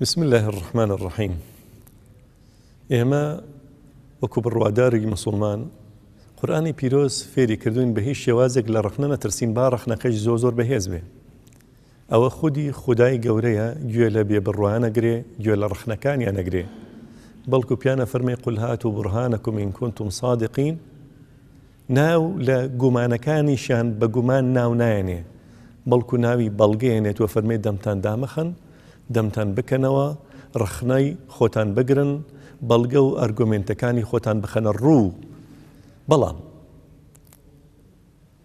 بسم اللە الرحمن الرحیم ئێمە وەکو بڕواداری مسلمان قورآانی پیرۆز فێری کردوین بە هیچ شێوازێک لە ڕخنە نەترسین با ڕخنەکەش زۆر زۆر بەهێز بێ ئەوە خودی خدای گەورەیە گوێ لە بێ بڕوانە گرێ گوێ لە ڕخنەکانیان نەگرێ بەڵکو پیانە فەرمی قولهات و بڕهانەکو من کونتم صادقین ناو لە گومانەکانیشیان بە گومان ناو نایەنێ، بەڵکو ناوی بەڵگەیەنێت و فەرمێ دەمتان دامەخەن، دەمتان بکەنەوە، ڕەخنەی خۆتان بگرن، بەڵگە و ئەرگۆمێنتەکانی خۆتان بخەنە ڕوو. بەڵام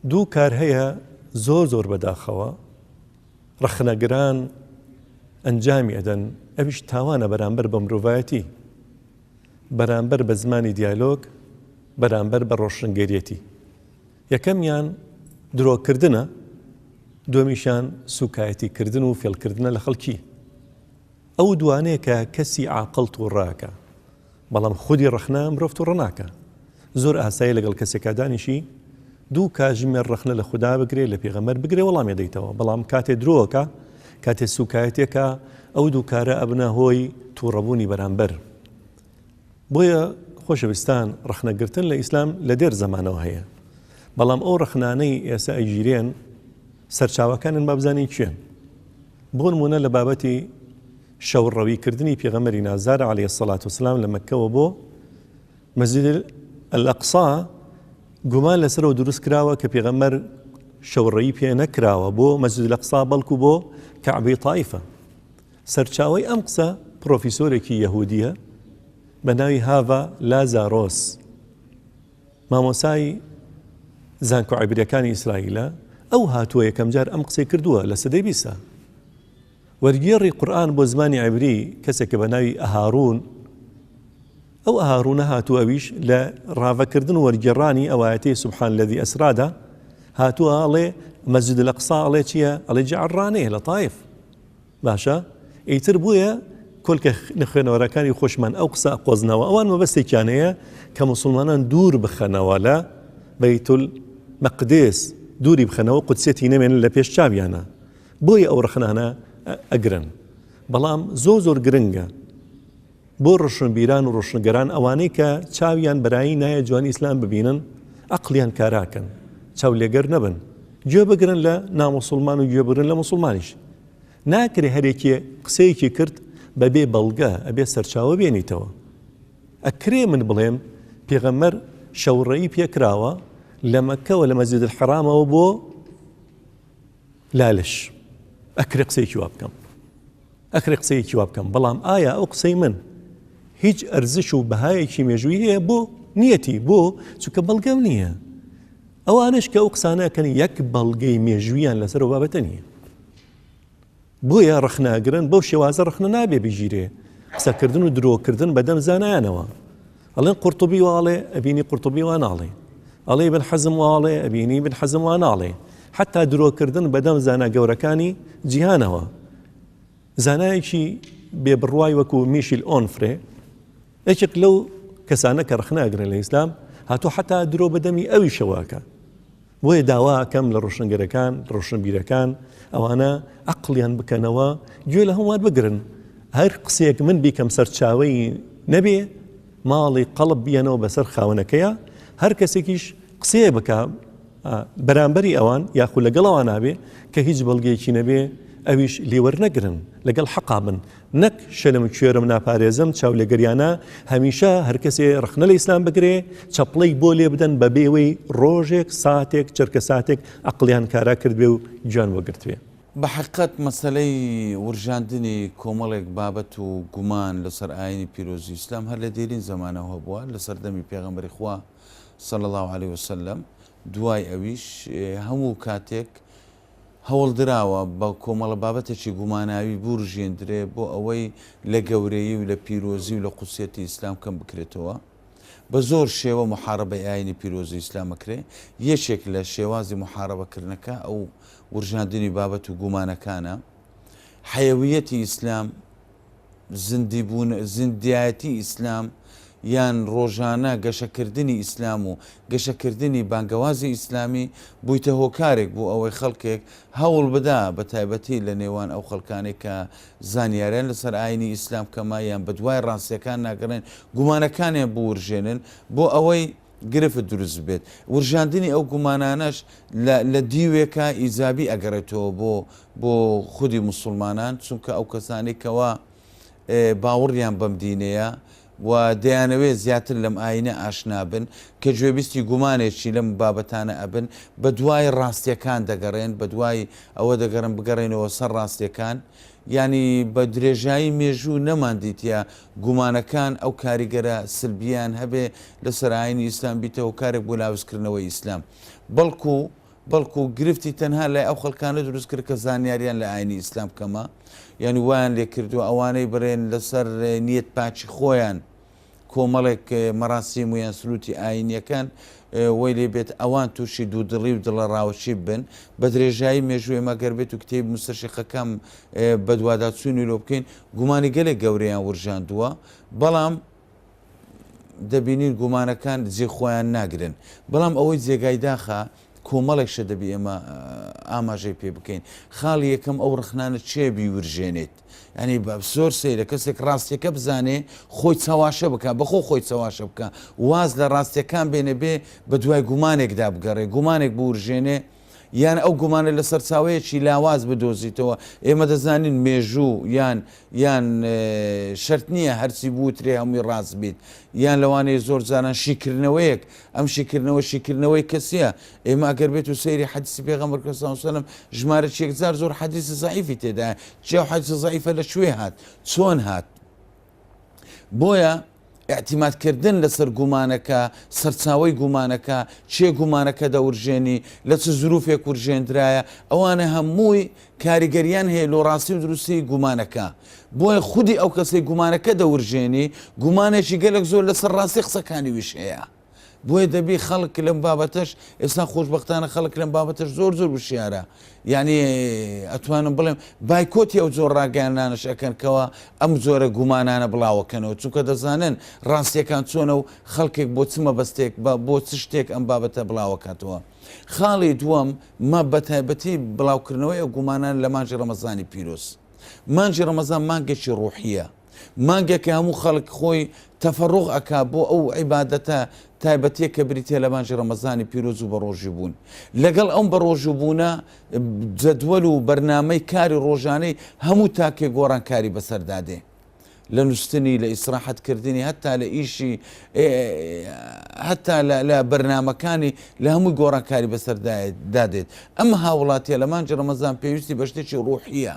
دوو کار هەیە زۆر زۆر بەداخەوە ڕەخنەگران ئەنجامی ئەدەن، ئەویش تاوانە بەرامبەر بە مرۆڤایەتی، بەرامبەر بە زمانی دیالۆگ، بەرامبەر بە ڕۆشنگەریەتی، یەکەمیان درۆکردنە، دوەمیشیان سوکایەتی کردن و فێڵکردنە لە خەڵکی. ئەو دوانەیە کە کەسی عاقڵ توڕەکە، بەڵام خودی ڕەخنە مرۆڤ توڕە ناکا. زۆر ئاسایە لەگەڵ کەسێکا دانیشی دوو کاژمێر ڕەخنە لە خودا بگرێ، لە پێغەمبەر بگرێ وەڵامی دەیتەوە، بەڵام کاتێ درۆ ئەکا، کاتێ سوکایەتی ئەکا، ئەو دوو کارە ئەبنە هۆی توڕەبوونی بەرامبەر. بۆیە خۆشەویستان ڕەخنە گرتن لە ئیسلام لە دێر زەمانەوە هەیە بەڵام ئەو ڕەخنانەی ئێستا ئەگیرێن سەرچاوەکانن بابزانین کێن بۆ نمونە لە بابەتی شەوڕەوی کردنی پێغەمەری نازار عليه سەلات و سلام لە مەکەوە بۆ مەزیدل ئەلەقسا گومان لەسەرەوە دروست کراوە کە پێغەمەر شەوڕەی پێ نەکراوە بۆ مەزود لەقسا بەڵکو بۆ کەعبی تایفە سەرچاوەی ئەم قسە پڕۆفیسۆرێکی یەهودییە بە ناوی هاڤا لازارۆس، مامۆسای زانکۆ عیبریەکانی ئیسرائیلە، ئەو هاتووە یەکەمجار ئەم قسەی کردووە لە سەدەی بیسا. وەرگێڕی قورئان بۆ زمانی عیبری کەسێکە بە ناوی ئەهاروون، ئەو ئەهاروونە هاتووە ئەویش لە ڕاڤەکردن و وەرگێڕانی ئەوایەتی سبحان الذی اسرادا هاتووە ئەڵێ مەسجد الاقصی ئەڵێ چییە؟ ئەڵێ جعرانەیە لە طایف. باشە ئیتر بۆیە کۆلکە لە خوێنەوەرەکانی خۆشمان ئەو قسە قۆزنەوە ئەوان مەبەستێکیان هەیە کە مسلمانان دوور بخەنەوە لە بەیتول مەقدس دووری بخەنەوە قودسێتی نەمێنن لە پێش چاویانە بۆیە ئەو ڕخنانە ئەگرن بەڵام زۆ زۆر گرنگە بۆ ڕۆشنبیران و ڕۆشنگەران ئەوانەی کە چاویان بەرایی نایە جوانی ئیسلام ببینن ئەقڵیان کاراکەن چاولێگەر نەبن گوێ بگرن لە نامۆسلمان و گوێبرن لە مسلمانیش ناکرێ هەرێکی قسەیەکی کرد بەبێ بەڵگە ئەبێ سەرچاوە بێنیتەوە ئەکرێ من بڵێم پێغەمەر شەوڕەی پێکراوە لە مەکەوە لە مەزید حرامەوە بۆ لالش ئەکرێ قسەیەکی وا بکەم ئەکرێ قسەیەکی وا بکەم، بەڵام ئایا ئەو قسەی من هیچ ئەرزش و بەهایەکی مێژووی هەیە بۆ نیەتی بۆ چونکە بەڵگەم نییە. ئەوانش کە ئەو قسانەکەن یەک بەڵگەی مێژویان لەسەر و بابەتە نییە بۆیە ڕخناگرن بەو شێوازە ڕخنە نابێ بگیرێ قسەکردن و درۆکردن بەدەم زانایانەوە ئەڵێن قورتوبی وا ئەڵێ، ئەبینی قورتوبی وا ناڵێ. ئەڵێ ئیبن حەزم وا ئەڵێ، ئەبینی ئیبن حەزم وا ناڵێ. حەتتا درۆکردن بە دەم زانا گەورەکانی جیهانەوە. زانایەکی بێ بڕوای وەکوو میشیل ئۆنفرێ، یەکێک لەو کەسانە کە ڕەخنە ئەگرێ لە ئیسلام، هاتووە حەتتا درۆ بە دەمی ئەویشەوە ئەکا. بۆیە داوا ئەکەم لە ڕۆشنگەرەکان، ڕۆشنبیرەکان، ئەوانە ئەقڵیان بکەنەوە، گوێ لە هەمووان بگرن، هەر قسەیەک من بیکەم سەرچاوەی نەبێ، ماڵی قەڵب بیەنەوە بەسەر خاوەنەکەیا، هەر کەسێکیش قسەیەک بکا بەرامبەری ئەوان یاخود لەگەڵ ئەوان نابێ کە هیچ بەڵگەیەکی نەبێ، ئەویش لێ وەرنەگرن، لەگەڵ حەقا بن. نەک شەلم کوێرم ناپارێزم چاولێگەریانە هەمیشە هەرکەسێ ڕخنە لە ئیسلام بگرێ چەپڵەی بۆ لێ بدەن بە بێوەی ڕۆژێک ساتێک چرکە ساتێک ئەقلیان کارا کردبێ و گوێیان وەگرتبێ. بە حەقیقەت مەسەلەی ورژاندنی کۆمەڵێک بابەت و گومان لەسەر ئایینی پیرۆزی ئیسلام هەر لە دێرین زەمانەوە هەبووە لە سەردەمی پێغەمبەری خوا صلی اللە علیە وسلم دوای ئەویش هەموو کاتێک هەوڵدراوە بە کۆمەڵە بابەتێکی گوماناوی بوورژێندرێ بۆ ئەوەی لە گەورەیی و لە پیرۆزی و لە قودسیەتی ئیسلام کەم بکرێتەوە. بە زۆر شێوە موحارەبەی ئایینی پیرۆزی ئیسلام ئەکرێ. یەکێک لە شێوازی موحارەبە کردنەکە ئەو وورژاندنی بابەت و گومانەکانە. حەیەوییەتی ئیسلام زیندی بوون، زیندایەتی ئیسلام، یان ڕۆژانە گەشەکردنی ئیسلام و گەشەکردنی بانگەوازی ئیسلامی، بوویتە هۆکارێک بۆ ئەوەی خەڵکێک هەوڵ بدا، بە تایبەتی لە نێوان ئەو خەڵکانەی کە زانیاریان لەسەر ئایینی ئیسلام کەمە یان بەدوای ڕاستییەکان ناگەڕێن، گومانەکانیان بوورژێنن بۆ ئەوەی گرفت دروست ببێت. ورژاندنی ئەو گومانانەش لە لە دیوێکە ئیجابی ئەگەڕێتەوە بۆ بۆ خودی موسڵمانان چونکە ئەو کەسانەی کەوا باوەڕیان بەم دینەیە و دەیانەوێت زیاتر لەم ئاینە ئاشنا بن کە گوێبیستی گومانێکی لەم بابەتانە ئەبن بە دوای ڕاستیەکان دەگەڕێن بە دوای ئەوە دەگەڕن بگەڕێنەوە سەر ڕاستیەکان ینی بە درێژایی مێژوو نەماندیتە گومانەکان ئەو کاریگەرە سلبیان هەبێ لە سەراینی ئیسلام بیتەوە کارێک بۆ لاوزکردنەوەی ئیسلام بەڵکو بەڵکو گرفتی تەنها لای ئەو خەڵکانە دروست کرد کە زانیاریان لە ئاینی ئیسلام کەمە، یانی وایان لێ کردووە ئەوانەی بڕێن لەسەر نیەت پاکی خۆیان کۆمەڵێک مەراسیم و یان سروتی ئاینیەکان وەی لێ بێت ئەوان تووشی دوودڵی و دڵە ڕاوەچی بن بە درێژایی مێژووی مەگەر بێت و کتێب مستەشیقەکەم بەدواداچوونی لۆ بکەین گومانی گەلێک گەورەیان ورژاندووە بەڵام دەبینین گومانەکان جێ خۆیان ناگرن، بەڵام ئەوەی جێگای داخە کۆمەڵێک شت دەبی ئێمە ئاماژەی پێ بکەین، خاڵی یەکەم ئەو ڕخنانە چێ بیورژێنێت، یانی زۆر سەیرە کەسێک ڕاستیەکە بزانێ خۆی چەواشە بکا بەخۆ خۆی چەواشە بکا واز لە ڕاستیەکان بێنێ بێ بە دوای گومانێکدا بگەڕێ گومانێک بورژێنێ، یان ئەو گومانە لە سەرچاوەیەکی لاواز بدۆزیتەوە، ئێمە دەزانین مێژوو یان یان شەرت نییە هەرچی بوترێ هەمووی ڕاست بیت، یان لەوانەیە زۆر جاران شیکردنەوەیەک، ئەم شیکردنەوە شیکردنەوەی کەسییە، ئێمە ئەگەر بێت و سەیری حەدیسی پێغەمبەر کە ساو سەلەم ژمارە چێکجار زۆر حەدیسی زەعیفی تێدایە، جێ و حەدیسە زەعیفە لە کوێ هات؟ چۆن هات؟ بۆیە ئیعتیماد کردن لەسەر گومانەکە سەرچاوەی گومانەکە چێ گومانەکە دەورژێنی لە چ زروفێک ورژێندرایە ئەوانە هەمووی کاریگەریان هەیە لۆ ڕاستی و دروستی گومانەکە بۆیە خودی ئەو کەسی گومانەکە دەورژێنی گومانێکی گەلک زۆر لەسەر ڕاستی قسەکانی ویش هەیە بۆیە دەبی خەڵک لەم بابەتەش ئێستا خۆشبەختانە خەڵک لەم بابەتەش زۆر زۆر وشیارە یعنی ئەتوانم بڵێم بایکۆتی ئەو زۆر ڕاگەیانانش ئەەکەن کەەوە ئەم زۆرە گومانانە بڵاوەکەنەوە چونکە دەزانن ڕاستیەکان چۆنە و خەڵکێک بۆ چمە بەستێک بە بۆ چ شتێک ئەم بابەتە بڵاوەکاتەوە خاڵی دووەم مە بەتایبەتی بڵاوکردنەوەی ئەو گومانان لە مانجی ڕەمەزانی پیرۆز مانجی ڕەمەزان مانگێکی ڕوحیە مانگە کە هەموو خەڵک خۆی تەفەڕوغ ئەکا بۆ ئەو عیبادەتە تایبەتیە کە بریتیە لە مانگی ڕەمەزانی پیرۆز و بەڕۆژوو بوون لەگەڵ ئەم بەڕۆژوو بوونە جەدوەل و بەرنامەی کاری ڕۆژانەی هەموو تاکێ گۆڕانکاری بەسەردا دێ لە نووسنی لە ئیسراحەت کردنی هەتا لە ئیشی هەتا لە بەرنمەکانی لە هەموو گۆڕانکاری بەسەردایە دادێت ئەم هاوڵاتیە لە مانجی ڕەمەزان پێویستی بە شتێکی ڕوحیە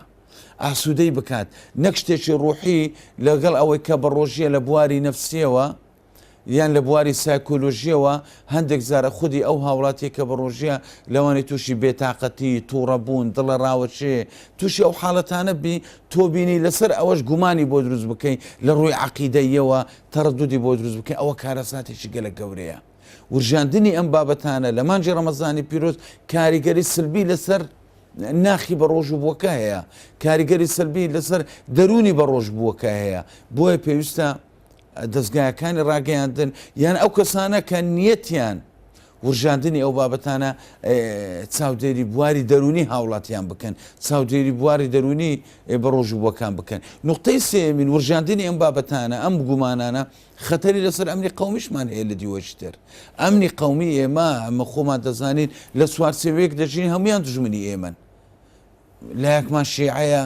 ئاسوودەی بکات، نەک شتێکی ڕووحی، لەگەڵ ئەوەی کە بە ڕۆژییە لە بواری نەفسییەوە یان لە بواری سایکۆلۆژییەوە هەندێک جار خودی ئەو هاوڵاتییە کە بە ڕۆژییە لەوانەیە تووشی بێتاقەتی، توڕەبوون، دڵەڕاوکێ، تووشی ئەو حاڵەتانە بی، تۆ بینی لەسەر ئەوەش گومانی بۆ دروست بکەی، لە ڕووی عەقیدەییەوە تەڕەدودی بۆ دروست بکەی، ئەوە کارەساتێکی گەلەک گەورەیە. ورژاندنی ئەم بابەتانە لە مانگی ڕەمەزانی پیرۆز کاریگەری سلبی لەسەر. ناخی بەڕۆژووبووەکە هەیە، کاریگەری سەلبی لەسەر دەروونی بەڕۆژبووەکە هەیە، بۆیە پێویستە دەزگایەکانی ڕاگەیاندن یان ئەو کەسانە کە نیەتیان ورژاندنی ئەو بابەتانە چاودێری بواری دەرونی هاوڵاتیان بکەن چاودێری بواری دەرونی بەڕۆژوبووەکان بکەن نقطەی سێمین ورژاندنی ئەم بابەتانە ئەم گومانانە خەتەری لەسەر ئەمنی قەومیشمان هەیە لە دیوەشی تر ئەمنی قەومی ئێمە ئەمە خۆمان دەزانین لە چوارچێوەیەک دەژین هەمویان دژمنی ئێمەن لایەکمان شێعەیە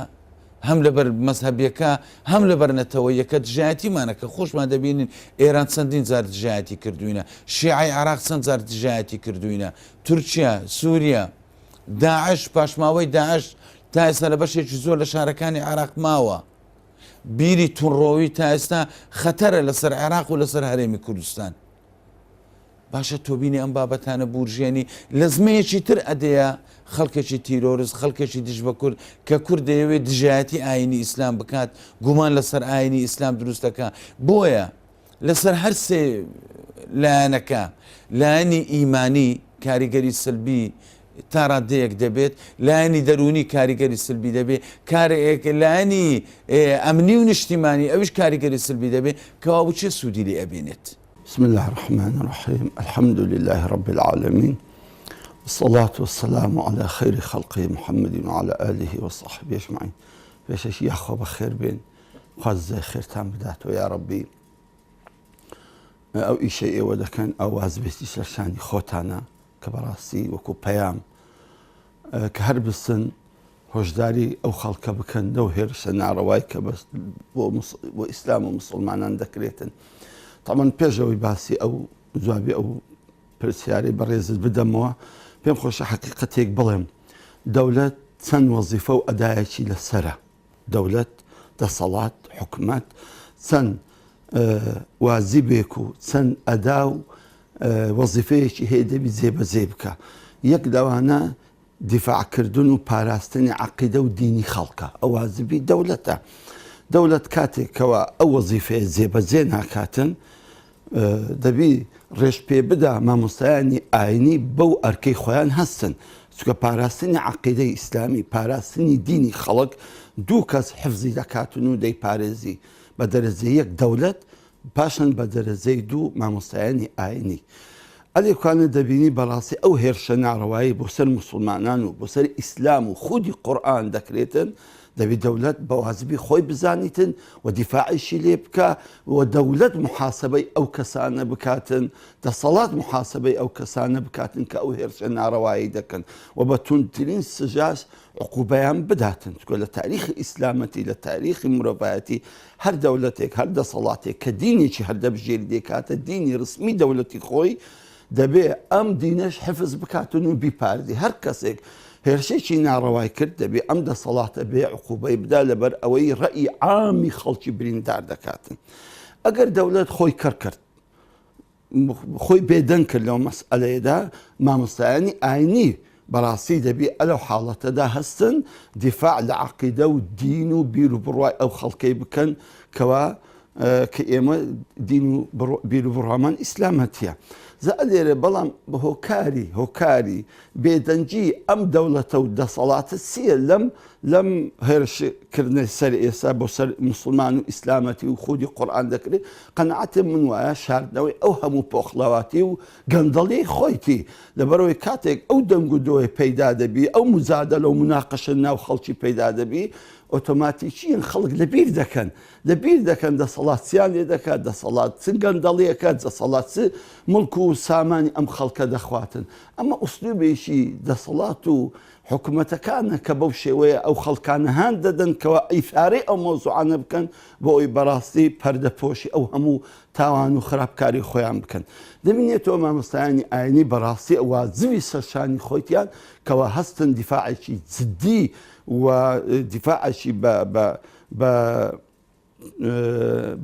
هەم لەبەر مەذهبیەکە هەم لەبەر نەتەوە یەکە دژایەتیمانە کە خۆشمان دەبینین ئێران چەندین جار دژایەتی کردوینە شیعی عراق چەند جار دژایەتی کردوینە تورکیا سووریا داعش پاشماوەی داعش تا ئێستا لە بەشێکی زۆر لە شارەکانی عراق ماوە بیری توندڕۆوی تا ئێستا خەتەرە لەسەر عێراق و لەسەر هەرێمی کوردستان باشە تۆبینی ئەم بابەتانە بورژێنی لە زمەیەکی تر ئەدەیە خەڵکێکی تیرۆرست خەڵکێکی دژ بە کورد کە کورد دەیەوێت دژایەتی ئاینی ئیسلام بکات گومان لەسەر ئاینی ئیسلام دروستەکە بۆیە لەسەر هەر سێ لایەنەکە، لایەنی ئیمانی کاریگەری سەلبی تا ڕادەیەک دەبێت، لایەنی دەروونی کاریگەری سەلبی دەبێت، کارێک لایەنی ئەمنی و نیشتیمانی ئەویش کاریگەری سەلبی دەبێت، کەوا و چێ سوودی لێ ئەبینێت؟ بسم اللە الرحمن الرحیم الحمد للە رب العالمین والصلاة والسلام علی خیر خلقه محمد وعلی آله وصحبه اجمعین پێشەکی یاخوا بەخێر بێن. خوا جزای خێرتان بداتەوە یاڕەبی. ئەو ئیشەی ئێوە دەکەن ئەو وازبێتی سەرشانی خۆتانە کە بەڕاستی وەکو پەیام کە هەر بسن هۆشداری ئەو خەڵکە بکەن لەو هێرشە ناڕەوای کە بەس بۆ ئیسلام و مسلمانان دەکرێتن تەمەن پێشەوەی باسی ئەو جوابی ئەو پرسیاری بەڕێزت بدەمەوە پێم خۆشە حقیقەتێک بڵێم دەولەت چەند وەزیفە و ئەدایەکی لەسرە دەولەت، دەسەڵات، حکومەت چەند واجبێک و چەند ئەدا و وەزیفەیەکی هەیە دەبی جێبەجێی بکا. یەک لەوانە دیفاع کردن و پاراستنی عەقیدە و دینی خەڵکە. ئەو واجبی دەولەتە. دەولەت کاتێک کەوا ئەو وەزیفەیە جێبەجێ ناکاتن، دەبی ڕێش پێ بدا مامۆستایانی ئاینی بەو ئەرکەی خۆیان هەستن چکە پاراستنی عقیدەی ئیسلامی پاراستنی دینی خەڵک دوو کەس حفزی دەکاتن و دەی پارێزی بە دەرەجە یەک دەولەت پاشان بە دەرەجەی دوو مامۆستایانی ئاینی ئەلێکانە دەبینی بەڕاستی ئەو هێرشە ناڕەوایی بۆ سەر مسلمانان و بۆ سەر ئیسلام و خودی قورآن دەکرێتن دەبی دەولەت بەوازبی خۆی بزانیتن و دیفاعیشی لێ بکا و دەولەت محاسەبەی ئەو کەسانە بکاتن دەسەڵات محاسەبەی ئەو کەسانە بکاتن کە ئەو هێرشە ناڕەوایی دەکەن و بە توندترین سزاش عقوبەیان بداتن چکۆ لە تاریخی ئیسلامەتی لە تاریخی مرۆڤایەتی هەر دەولەتێک هەر دەسەڵاتێک کە دینێکی هەر دەبژێری دێکاتە دینی رسمی دەولەتی خۆی دەبێ ئەم دینەش حفز بکاتن و بیپارێزی، هەر کەسێک هێرشێکی ناڕەوای کرد دەبێ ئەم دەسەڵاتە بێ عقوبەی بدا لەبەر ئەوەی ڕەئی عامی خەڵکی بریندار دەکاتن. ئەگەر دەولەت خۆی کەر کرد، خۆی بێدەنگ کرد لەو مەسئەلەیەدا، مامۆستایانی ئاینی بەڕاستی دەبی ئەلەو حاڵەتەدا هەستن دیفاع لە عەقیدە و دین و بیر و بڕوای ئەو خەڵکەی بکەن کەوا کە ئێمە دین و بیر و بڕوامان ئیسلامەتیە زە ئەلێرە بەڵام بە هۆکاری هۆکاری بێدەنگی ئەم دەوڵەتە و دەسەڵاتە چییە لەم لەم هێرشکردنەی سەر ئێستا بۆ سەر مسلمان و ئیسلامەتی و خودی قورآان دەکرێت قەنعاتێ من وایە شاردنەوەی ئەو هەموو پۆخڵاواتی و گەندەڵی خۆیتی، لەبەرئەوەی کاتێک ئەو دەنگ و دۆیە پەیدا دەبی، ئەو موجادەلە و موناقەشە ناو خەڵکی پەیدا دەبی، ئۆتۆماتیکیەن خەڵک لەبیر دەکەن، لەبیر دەکەن دەسەڵات چیان لێ دەکات، دەسەڵات چ گەندەڵیەکە، دەسەڵات چ موڵک و سامانی ئەم خەڵکە دەخواتن. ئەمە ئوسلوبێکی دەسەڵات و حکومەتەکانە کە بەو شێوەیە ئەو خەڵکانە هان دەدەن کەوا ئیثارەی ئەو مەوزوعانە بکەن بۆ ئەوەی بەراستی پەردە پۆشی ئەو هەموو تاوان و خراپکاری خۆیان بکەن. دەبینێتەوە مامۆستایانی ئاینی بەڕاستی واجبی سەر شانی خۆیتیان کەوا هەستن دیفاعێکی جدی و دیفاعێکی بە بە بە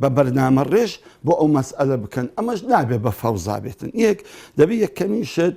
بە بەرنامە ڕێژ بۆ ئەو مەسئەلە بکەن ئەمەش نابێ بە فەوزا بێتن یەک دەبی یەکەمین شت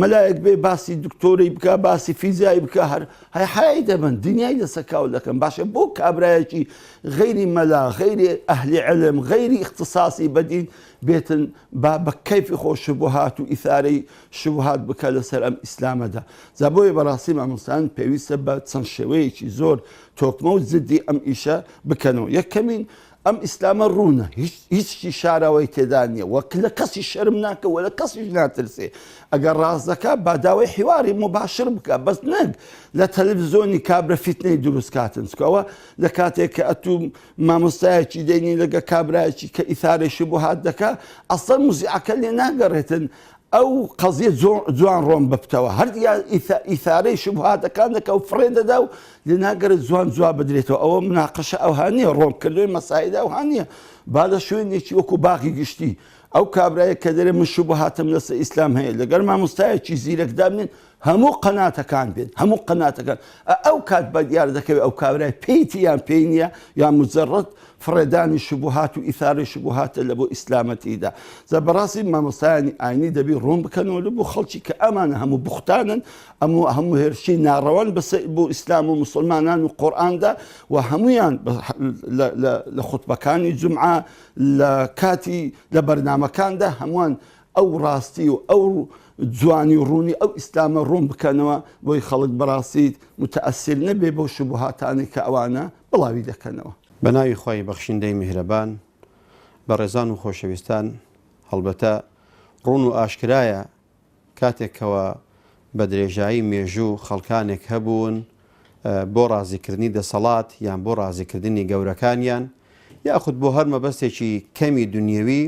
مەلایەک بێ باسی دکتۆرەی بکا باسی فیزیایی بکە هەر هەی حەیای دەبەن دنیای لەسەر کاول دەکەن باشە بۆ کابرایەکی غەیری مەلا غەیری ئەهلی علم غەیری اختصاصی بەدین بێتن با بە کەیفی خۆ شبهات و ئیثارەی شبهات بکە لەسەر ئەم ئیسلامەدا جا بۆیە بەڕاستی مامۆستان پێویستە بە چەند شێوەیەکی زۆر تۆکمە و زدی ئەم ئیشە بکەنەوە یەکەمین ئەم ئیسلامە ڕوونە هیچی شاراوەی تێدا نیە وە لە کەسی شەرم ناکە وە لە کەسیش ناترسێ ئەگەر ڕاست دەکا باداوای حیواری مباشر بکە بەس نەک لە تەلەڤزۆنی کابرا فیتنەی دروست کاتن چکەوە لە کاتێک کە ئەتوو مامۆستایەکی دێنی لەگە کابراایکی کە ئیثارێکی بۆ هات دەکا ئەسەر موزیعەکە لێ ناگەڕێتن ئەو قەزیە جوان ڕۆن ببتەوە هەر ئیثارەی شوبهاتەکان دەکا و فڕێ دەدا و لەنا گەرە جوان جواب بدرێتەوە ئەوە مناقەشە ئەوها نیە ڕۆن کردوی مەساعدا ئەوها نیە با لە شوێنێکی وەکو باغی گشتی ئەو کابرایە کە دەرێ من شوبهاتم لەسە ئیسلام هەیە لەگەر مامۆستایەکی زیرەکدامێن و هەموو قەناتەکان بێت هەموو قەناتەکان ئەو کات بە دیار دەکەوێت ئەو کابرای پێیتی یان پێی نییە یا مجرد فڕێدانی شبوهات و ئیثارەی شبوهاتە لە بۆ ئیسلامەتیدا زە بەڕاستی مامۆستایانی ئاینی دەبی ڕوون بکەنەوە لە بۆ خەڵکی کە ئەمانە هەموو بوختانن ئەمو هەموو هێرشی ناڕەوان بەس بۆ ئیسلام و مسلمانان و قۆراندا و هەمویان لە خوتبەکانی جمعە لە کاتی لە بەرنمەکاندا هەمووان ئەو ڕاستی و ئەو جوانی و ڕوونی ئەو ئیسلامە ڕوون بکەنەوە بۆی خەڵک بەڕاستی متەئەسیر نەبێ بەو شوبهاتانەی کە ئەوانە بڵاوی دەکەنەوە. بە ناوی خوای بەخشندەی میهرەبان. بەڕێزان و خۆشەویستان هەڵبەتە ڕوون و ئاشکرایە کاتێک کەوا بە درێژایی مێژوو خەڵکانێک هەبوون بۆ ڕازیکردنی دەسەڵات یان بۆ ڕازیکردنی گەورەکانیان یاخود بۆ هەر مەبەستێکی کەمی دنیەوی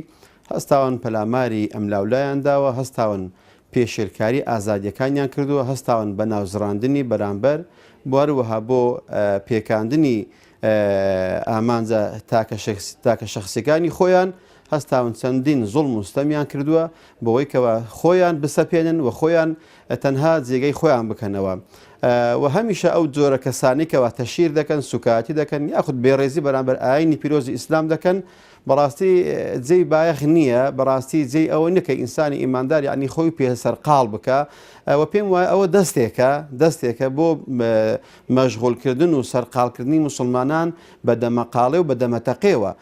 هەستاون پەلاماری ئەملاولایان داوە هەستاون پێشێلکاری ئازادیەکانیان کردووە هەستاون بە ناوزڕاندنی بەرامبەر بوەروەها بۆ پێکاندنی ئامانجە تاکە شخصەکانی خۆیان هەستاون چەندین زوڵم و ستەمیان کردووە بۆوەی کەوا خۆیان بسەپێنن و خۆیان تەنها جێگەی خۆیان بکەنەوە و هەمیشە ئەو جۆرە کەسانی کەوا تەشیر دەکەن سوکایەتی دەکەن یاخود بێڕێزی بەرامبەر ئاینی پیرۆزی ئیسلام دەکەن بەڕاستی جێی بایەخ نییە بەڕاستی جێی ئەوە نکە ئینسانی ئیماندار یعنی خۆی پێ سەرقاڵ بکە ئەوە پێم وایە ئەوە دەستێکە دەستێکە بۆ مەژغولکردن و سەرقالکردنی مسلمانان بە دەمەقاڵێ و بە دەمەتەقێەوە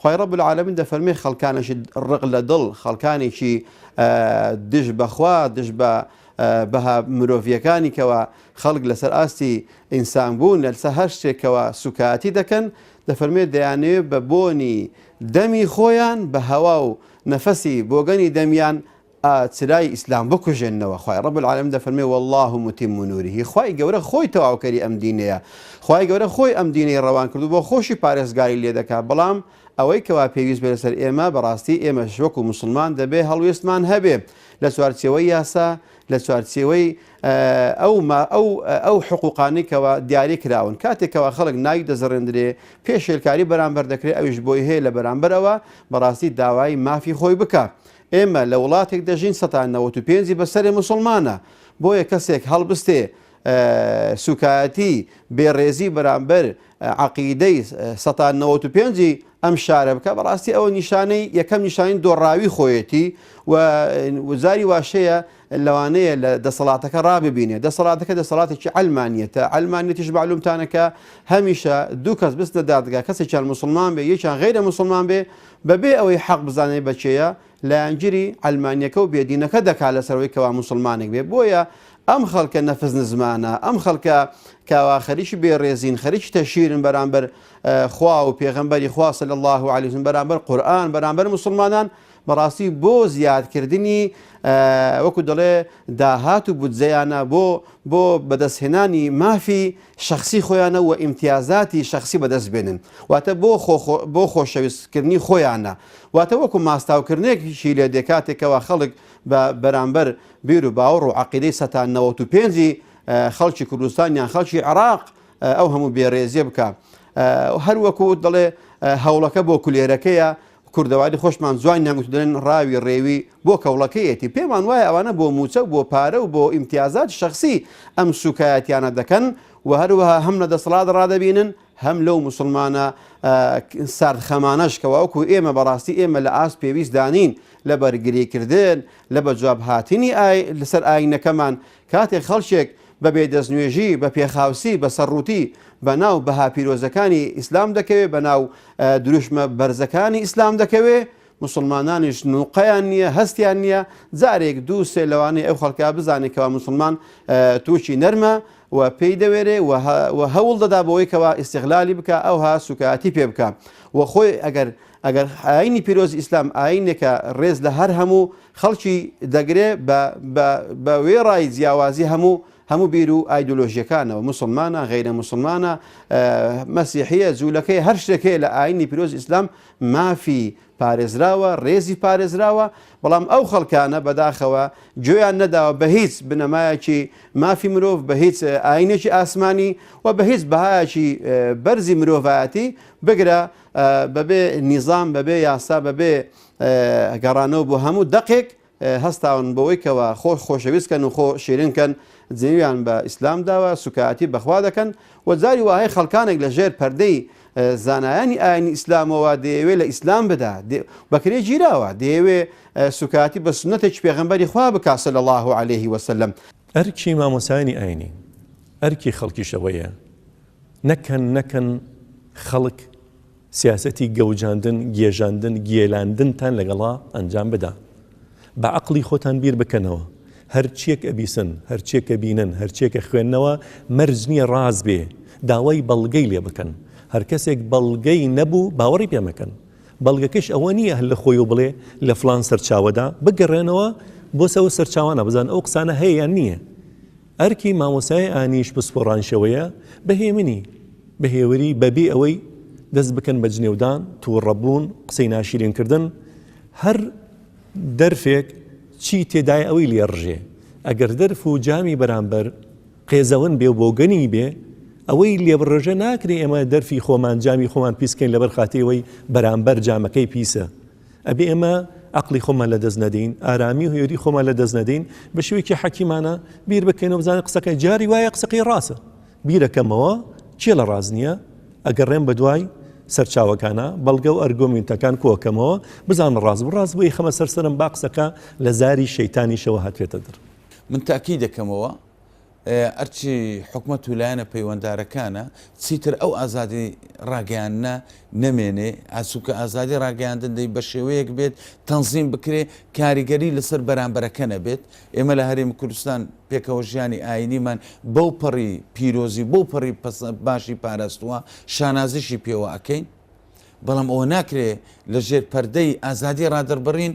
خوای رب العالمین دەفەرمێ خەڵکانێکی رق لە دڵ، خەڵکانێکی دژ بە خوا، دژ بە بەها مرۆڤییەکانی کەوا خەڵک لەسەر ئاستی ئینسان بوون، لەسەر هەر شتێکەوە سووکایەتی دەکەن، دەفەرمێ دەیانەوێ بە بۆنی دەمی خۆیان، بە هەوا و نەفەسی بۆگەنی دەمیان ئا چرای ئیسلام بکوژێننەوە خوای رب العالمین دەفەرموێ واللە متم نوره خوای گەورە خۆی تەواوکەری ئەم دینەیە خوای گەورە خۆی ئەم دینەی رەوان کردو بۆ خۆشی پارێزگاری لێدەکا بەڵام ئەوەی کەوا پێویست بێ لەسەر ئێمە بەڕاستی ئێمەش وەکو موسڵمان دەبێ هەڵوێستمان هەبێ لە چوارچێوەی یاسا لە چوارچێوەی ئەو ما ئەو ئەو حقوقانی کەوا دیاری کراون کاتێک کەوا خەڵک ناوی دەزڕێندرێ پێشێلکاری بەرامبەر دەکرێت ئەویش بۆی هەیە لە بەرامبەرەوە بەڕاستی داوای مافی خۆی بکە ئێمە لە وڵاتێک دەژین سەتا نەوەت و پێنجی بەسەرێ موسڵمانە بۆیە کەسێک هەڵبستێ سوکایەتی بێڕێزی بەرامبەر عەقیدەی سەتا نەوەت و پێنجی ئەم شارە بکە بەڕاستی ئەوە نیشانەی یەکەم نیشانین دۆڕاوی خۆیەتی و وزاری واشەیە لەوانەیە لە دەسەڵاتەکە ڕاببینێ دەسەڵاتەکە دەسەڵاتێکی عەلمانیەتە عەلمانیەتیش مەعلومتانە کە هەمیشە دوو کەس بچنە دادگا کەسێکیان موسڵمان بێ یەکیان غەیرە موسڵمان بێ بەبێ ئەوەی حەق بزانێ بە کێیە لایەنگیری عەلمانیەکە و بێدینەکە دەکا لەسەرەوەی کەوا موسڵمانێک بێ بۆیە ئەم خەڵکە نەفس نزمانە ئەم خەڵکە کاوا خەریکی بێڕێزین خەریکی تەشیرن بەرامبەر خوا و پێغەمبەری خوا صلی الله علیه و سلم بەرامبەر قورئان بەرامبەر موسڵمانان بەڕاستی بۆ زیادکردنی وەکو دەڵێ داهات و بودجەیانە بۆ بۆ بەدەستهێنانی مافی شەخسی خۆیانە و ئیمتیازاتی شەخسی بەدەست بێنن واتە بۆ بۆ خۆشەویستکردنی خۆیانە واتە وەکو ماستاوکردنێکیشی لێ دێ کاتێکەوە خەڵک بە بەرامبەر بیر و باوەڕ و عقیدەی سەتا نەوەت و پێنجی خەڵکی کوردستان یان خەڵکی عراق ئەو هەموو بێڕێزیە بکە هەروەکو دەڵێ هەوڵەکە بۆ کولێرەکەیە کوردەواری خۆشمان جوانیان گوت و دەلێن ڕاوی ڕێوی بۆ کەوڵەکەیەتی، پێمان وایە ئەوانە بۆ موچە و بۆ پارە و بۆ ئیمتیازاتی شەخسی ئەم سوکایەتیانە دەکەن و هەروەها هەم لە دەسەڵات ڕادەبینن هەم لەو موسڵمانە سارد خەمانەش کە وەکو ئێمە بەڕاستی ئێمە لە ئاست پێویستدا نین لە بەرگریکردن لە بەجوابهاتنی لەسەر ئاینەکەمان کاتێک خەڵکێک بە بێ دەستنوێژی، بە پێخاوسی، بە سەرڕووتی بە ناو بەها پیرۆزەکانی ئیسلام دەکەوێ، بە ناو دروشمە بەرزەکانی ئیسلام دەکەوێ، موسڵمانانیش نووقەیان نییە، هەستیان نییە، جارێک دوو سێ لەوانەی ئەو خەڵکە بزانێ کەوا موسڵمان تووکی نەرمە و پێی دەوێرێ و هەوڵ دەدا بۆ ئەوەی کەوا ئیستیغلالی بکا، ئەوها سووکایەتی پێ بکا و خۆی ئەگەر ئەگەر ئاینی پیرۆزی ئیسلام ئاینێکە ڕێز لە هەر هەموو خەڵکی دەگرێ بە بە بە وێڕای جیاوازی هەموو هەموو بیر و ئایدۆلۆژیەکانەوە موسڵمانە غەیرە موسڵمانە مەسیحیە جوولەکەی هەر شتێک هەیە لە ئاینی پیرۆز ئیسلام مافی پارێزراوە ڕێزی پارێزراوە بەڵام ئەو خەڵکانە بەداخەوە گوێیان نەداوە بە هیچ بنەمایەکی مافی مرۆڤ بە هیچ ئاینێکی ئاسمانی و بە هیچ بەهایەکی بەرزی مرۆڤایەتی بگرە بەبێ نیزام، بەبێ یاسا، بەبێ گەڕانەوە بۆ هەموو دەقێک، هەستاون بەوەی کەوا خۆ خۆشەویست کەن و خۆ شیرین کەن، جنێویان بە ئیسلام داوە، سوکایەتی بە خوا دەکەن و جاری وا هەیە خەڵکانێک لە ژێر پەردەی زانایانی ئاینی ئیسلامەوە دەیەوێ لە ئیسلام بدا بەکرێ گیراوە، دەیەوێ سوکایەتی بە سوننەتێکی پێغەمبەری خوا بکا صلی اللە علیه و سلم. ئەرکی مامۆستایانی ئاینی، ئەرکی خەڵکیش ئەوەیە، نەکەن نەکەن خەڵک سیاسەتی گەوجاندن گێژاندن گێلاندنتان لەگەڵا ئەنجام بدا بە عەقڵی خۆتان بیر بکەنەوە هەرچیەک ئەبیسن هەرچیەک ئەبینن هەرچیەک ئەخوێننەوە مەرج نیە ڕاست بێ داوای بەڵگەی لێ بکەن هەرکەسێک بەڵگەی نەبوو باوەڕی پێ مەکەن بەڵگەکەش ئەوە نیە هەر لە خۆی و بڵێ لە فڵان سەرچاوەدا بگەڕێنەوە بۆ سەو سەرچاوانە بزان ئەو قسانە هەیە یان نیە ئەرکی مامۆستای ئانیش پسپۆڕانیشەوەیە بە هێمنی، بە هێوری، بە بێ ئەوەی دەست بکەن بە جنێودان، تووڕەبوون، قسەی ناشیرین کردن، هەر دەرفێک چی تێدایە ئەوی لێ ڕژێ، ئەگەر دەرف و جامی بەرامبەر قێزەون بێ و بۆگەنی بێ ئەوەی لێ بڕژێ، ناکرێ ئێمە دەرفی خۆمان، جامی خۆمان پیس کەین لەبەر خاتری ئەوەی بەرامبەر جامەکەی پیسە. ئەبێ ئێمە عەقڵی خۆمان لەدەست نەدەین، ئارامی و هوێری خۆمان لەدەست نەدەین، بە شێوەیەکی حەکیمانە بیر بکەینەوە بزانین قسەکەی جاری وایە قسەکەی ڕاستە. بیرەکەمەوە کێ لە ڕاست نییە، ئەگەڕێم بە دوای سەرچاوەکانە، بەڵگە و ئەرگۆمینتەکان کۆکەمەوە، بزانم ڕاست بوو، ڕاست بوو ئەیخەمە سەر سەرم با قسەکە لە زاری شەیتانیشەوە هاتێتە دەر. من تاکیدەکەمەوە. ئەرچی حکومەت و لایەنە پەیوەندارەکانە چیتر ئەو ئازادی ڕاگەیاننا نەمێنێ ئاسوکە ئازادی ڕاگەیاندن دەی بە شێوەیەک بێت تەنزیم بکرێ کاریگەری لەسەر بەرامبەرەکە نەبێت ئێمە لە هەرێمی کوردستان پێکەوە ژیانی ئاینیمان بەو پەڕی پیرۆزی بۆ پەڕی باشی پاراستووە شانازیشی پێوە ئەەکەین بەڵام ئەوە ناکرێ لە ژێر پەردەی ئازادی ڕادەربڕین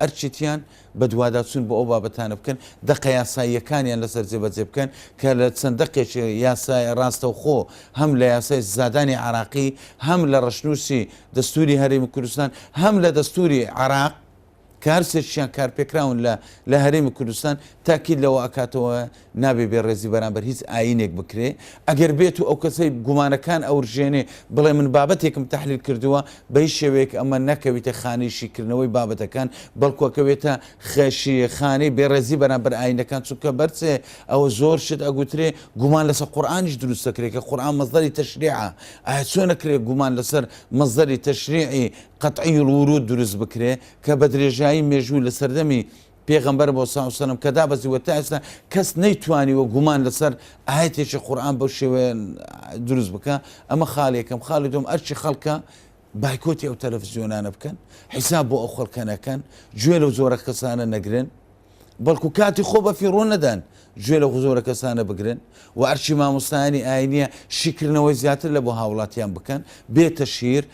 ئەرکێتییان بەدواداچوون بۆ ئەو بابەتانە بکەن، دەقە یاساییەکانیان لەسەر جێبەجێ بکەن، کە لە چەند دەقێکی یاسای ڕاستەوخۆ هەم لە یاسای سزادانی عێراقی، هەم لە ڕەشنووسی دەستووری هەرێمی کوردستان، هەم لە دەستووری عێراق، کە هەرسێکیشیان کارپێکراون لە لە هەرێمی کوردستان، تاکید لەوە ئەکاتەوە نابێ بێ ڕێزی بەرامبەر هیچ ئاینێک بکرێ، ئەگەر بێت و ئەو کەسەی گومانەکان ئەورژێنێ بڵێ من بابەتێکم تەحلیل کردووە، بە هیچ شێوەیەک ئەمە نەکەویتە خانەی شیکردنەوەی بابەتەکان، بەڵکو ئەکەوێتە خشی خانەی بێ ڕێزی بەرامبەر ئاینەکان، چونکە بەرچێ ئەوە زۆر شت ئەگوترێ، گومان لەسەر قورئانیش دروست ئەکرێ کە قورئان مەسدەری تەشریعە، ئایا چۆن ئەکرێ گومان لەسەر مەسدەری تەشریعی قطعی الورود دروست بکرێ کە بە درێژایی مێژوو لە سەردەمی پێغەمبەر، موسی و سەلام، کە دابەزی و تا ئێستا کەس نەیتوانیوە گومان لەسەر ئایەتێکی قورئان بەو شێوەیە دروست بکا، ئەمە خاڵی یەکەم، خاڵی دووەم ئەرکی خەڵکە بایکۆتی ئەو تەلەفزیۆنانە بکەن، حیساب بۆ ئەو خەڵکە نەکەن، گوێ لەو جۆرە کەسانە نەگرن، بەڵکو کاتی خۆ بە فیڕۆ نەدەن گوێ لە زۆرە کەسانە بگرن و ئەرکی مامۆستایانی ئاینیە شیکردنەوەی زیاتر لە بۆ هاوڵاتیان بکەن بێتە شیر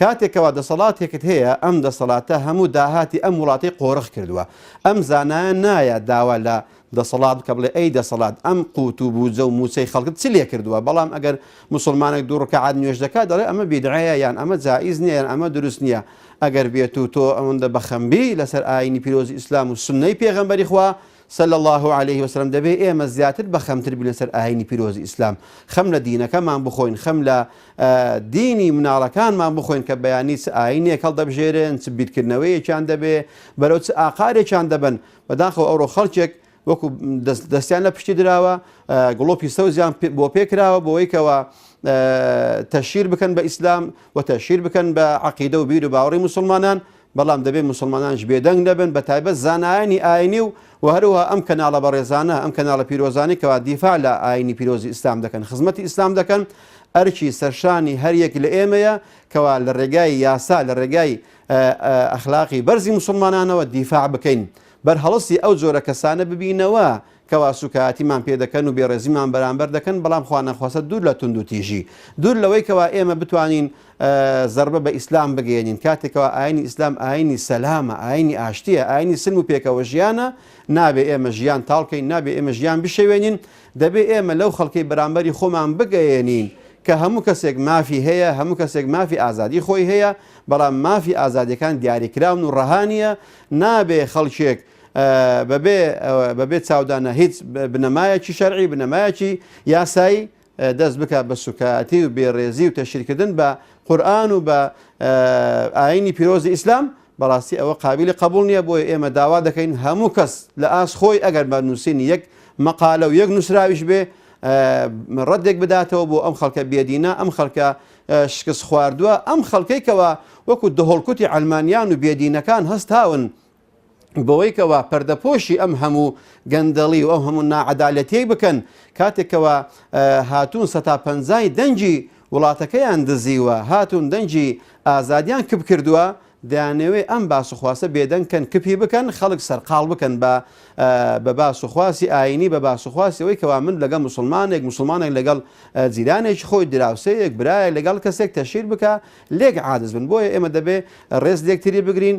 کاتێک کەوا دەسەڵاتێکت هەیە ئەم دەسەڵاتە هەموو داهاتی ئەم وڵاتەی قۆرخ کردوە ئەم زانایە نایە داوا لە دەسەڵات بکە بڵێ ئەی دەسەڵات ئەم قوت و بوجە و موچەی خەڵکت چ لێ کردوە بەڵام ئەگەر موسڵمانێک دوو ڕکەعات نوێژ دەکات دەڵێ ئەمە بیدعەیە یان ئەمە جائیز نیە یان ئەمە دروست نیە ئەگەر بێت و تۆ ئەوەندە بەخەمبی لەسەر ئاینی پیرۆزی ئیسلام و سوننەی پێغەمبەری خوا صلی اللە علیە وسلم، دەبێت ئێمە زیاتر بە خەمتر بین لەسەر ئاینی پیرۆزی ئیسلام، خەم لە دینەکەمان بخۆین، خەم لە دینی مناڵەکانمان بخۆین کە بەیانی چ ئاینێک هەڵدەبژێرن، چ بیرکردنەوەیەکیان دەبێ، بەرەو چ ئاقارێکیان دەبەن، بەداخەوە ئەوڕۆ خەڵکێک وەکو دەستیان لە پشتی دراوە، گڵۆپی سەوزیان بۆ پێ کراوە بۆ ئەوەی کەوا تەشهیر بکەن بە ئیسلام و تەشهیر بکەن بە عەقیدە و بیر و باوەڕی موسڵمانان، بەڵام دەبێت موسڵمانانیش بێدەنگ نەبن بە تایبەت زانایانی ئاینی و وە هەروەها ئەم کەناڵە بەڕێزانە ئەم کەناڵە پیرۆزانەی کەوا دیفاع لە ئاینی پیرۆزی ئیسلام دەکەن خزمەتی ئیسلام دەکەن ئەرکی سەرشانی هەر یەک لە ئێمەیە کەوا لە ڕێگای یاسا لە ڕێگای ئەخلاقی بەرزی موسڵمانانەوە دیفاع بکەین بەرهەڵستی ئەو جۆرە کەسانە ببینەوە کەوا سووکایەتیمان پێ دەکەن و بێڕێزیمان بەرامبەر دەکەن، بەڵام خوانەخواستە دوور لە توندوتیژی، دوور لەوەی کەوا ئێمە بتوانین زەربە بە ئیسلام بگەیەنین، کاتێک کەوا ئایینی ئیسلام ئایینی سەلامە، ئایینی ئاشتییە، ئایینی سلم و پێکەوەژیانە، نابێ ئێمە ژیان تاڵ کەین، نابێ ئێمە ژیان بشێوێنین، دەبێ ئێمە لەو خەڵکەی بەرامبەری خۆمان بگەیەنین کە هەموو کەسێک مافی هەیە، هەموو کەسێک مافی ئازادی خۆی هەیە، بەڵام مافی ئازادییەکان دیاریکراون و ڕەها نییە، نابێ خەڵکێک. بەبێ بەبێ چاودانە هیچ بنەمایەکی شەرعی بنەمایەکی یاسایی دەست بکات بە سوکایەتی و بێڕێزی و تەشیرکردن بە قورآن و بە ئاینی پیرۆزی ئیسلام بەڕاستی ئەوە قابلی قبول نییە بۆی ئێمە داوا دەکەین هەموو کەس لە ئاست خۆی ئەگەر بە نووسینی یەک مەقالە و یەک نووسراویش بێ ڕەتێک بداتەوە بۆ ئەم خەڵکە بێدینە ئەم خەڵکە شکست خواردووە ئەم خەڵکەی کەەوە وەکو دهۆڵکوتی ئەلمانیان و بێدینەکان هەستاون بەوەی کەوا پەردەپۆشی ئەم هەموو گەندەڵی و ئەو هەموو ناعەدالەتیەی بکەن کاتێکەوە هاتوون سەتا پەنجای دەنگی وڵاتەکەیان دزیوە هاتوون دەنگی ئازادیان کپ کردووە دەیانەوێ ئەم باس و خواسە بێدەنگکەن کپی بکەن خەڵک سەرقاڵ بکەن بە بە باس و خواسی ئاینی بە باس و خواسیەوەی کەوا من لەگەڵ مسلمانێک مسلمانێک لەگەڵ جیرانێکی خۆی دراوسەیەک برایە لەگەڵ کەسێک تەشیر بکە لێک عادز بن بۆیە ئێمە دەبێ ڕێز لێکتری بگرین